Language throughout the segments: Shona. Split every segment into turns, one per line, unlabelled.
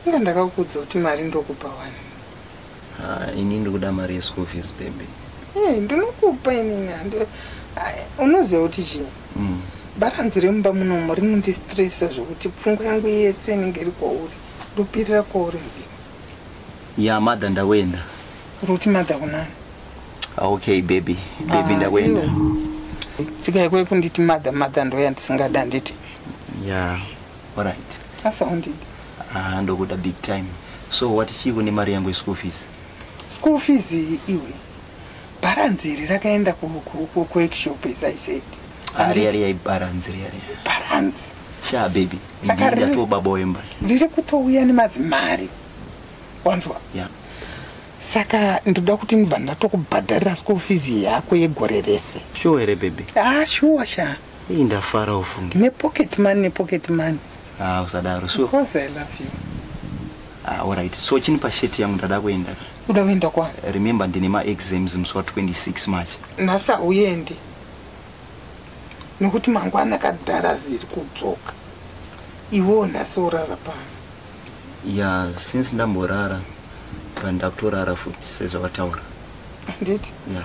inga ndakakuudza kuti mari ndokupa wani ah,
ini ndikuda mari yeschool fees baby eh, ndinokupa
inini ah, unoziva kuti chii mm. baranzi remumba munomo rinondistresa zvekuti pfungwa yangu yese inenge iri kwauri ndopirira kwauri mudii ya
madha ndakuenda ruti madha
kunani ah, okay
baby baby ndakuenda
tsika yekwe kunditi madha madha ndoyandisingada nditi Yeah.
All right. That's all
indeed. Ah, ndokuda
big time. So what is she kune mari yangu school fees? School fees
iwe. Balance iri rakaenda ku ku ku ku shop as I said. Ari ari ai
balance iri ari. Balance.
Sha baby.
Saka riri to baba wemba. Riri kutouya
nemazimari. Wanzwa? Yeah.
saka
ndoda kuti ndibva ndatokubhadharira school fees yako yegore rese shuwa here bebe
ah shuwa shaa
Hii ndafara
ufunge. Ne pocket money, ne
pocket money. Ah,
usadaro. So. Because I love you.
Ah, all
right. So chini pa shirt yangu ndada kuenda. Uda kuenda kwa?
Remember ndine ma
exams musi wa 26 March. Nasa uyendi.
Nokuti mangwana kadhara ziri kudzoka. Iwo nasa urara pano. Yeah,
since ndamborara pandakutorara futi sezvawataura. Nditi?
Yeah.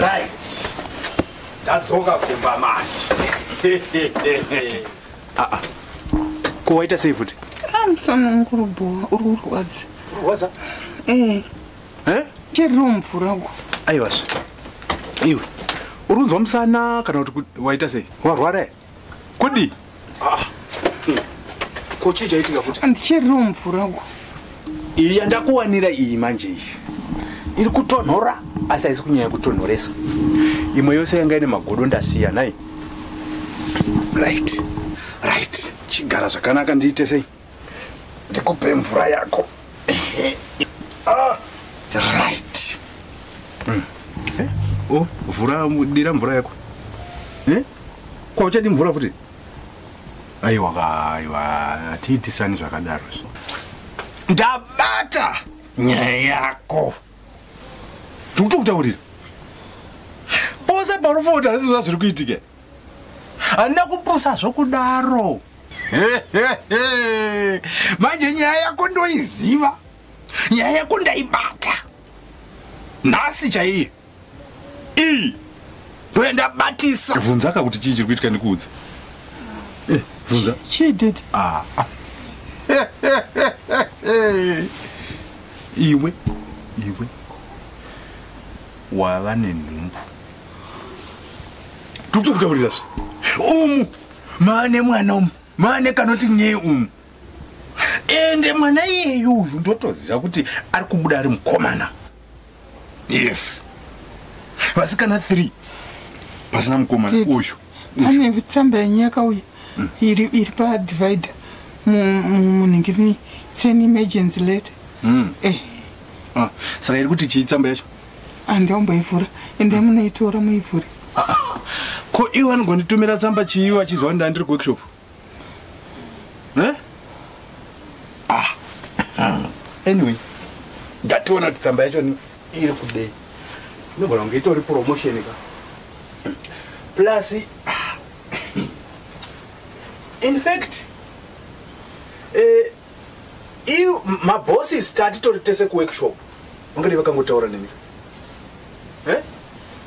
right ndadzoka kumba manje ah, ah.
ko waita sei futi ah, musana wangu uri bhowa uri kurwadza kurwadza
ee eh.
cheriro mvura uko aiwazve
iwe uri kunzwa musana kana kuti waita sei warwara kudi ah. ko chii chaitika futi andicheriro mvura
uko iyi
yandakuwanira iyi manje iyi iri kutonhora asi haisi kunyanya kutonhoresa imwe yose yanga ine magodo ndasiya nai right right chigara zvakanaka ndiite sei ndikupe mvura yako ah, right mm. eh? oh, vhura dira mvura yako eh? kwauchadi mvura futi aiwa ka aiwa hatiitisani zvakadaro ndabata nyaya yako tikuti kutaurira pose paunofona kuti hazvizvo zvazviri kuitika handina kupusa zvokudaro manje nyaya yako ndoiziva nyaya yako ndaibata nhasi chaiye ii ndoya ndabatisa vhunza ka kuti chii chiri kuitika ndikuudza eh, vhunza chii dedi
ah.
iwe iwe wava nenhumbu tikutokutaurira zve umu maa nemwana umu maa nekanoti nyee umu ende mwana iyeyu uyu ndotoziva kuti ari kubuda ari mukomana yes vasikana three pasina mukomana uyu pane tsamba
yenyaka uyu mm. iri iri padivider munhingirini seni emergency letter mm. eh. Ah,
saka iri kuti chii tsamba yacho handiomboivhura
ende munoitora muivhure
ko iwe anongonditumira tsamba chii vachiziva kuti ndandiri kuworkshop Eh? Ah. anyway ndationa kuti tsamba yacho ni- iri kudei inogona kunge itori promotion ka plus ah, in fact eh, iu mabosses tatitori tese kuworkshop vangadi vakangotaura nemi eh?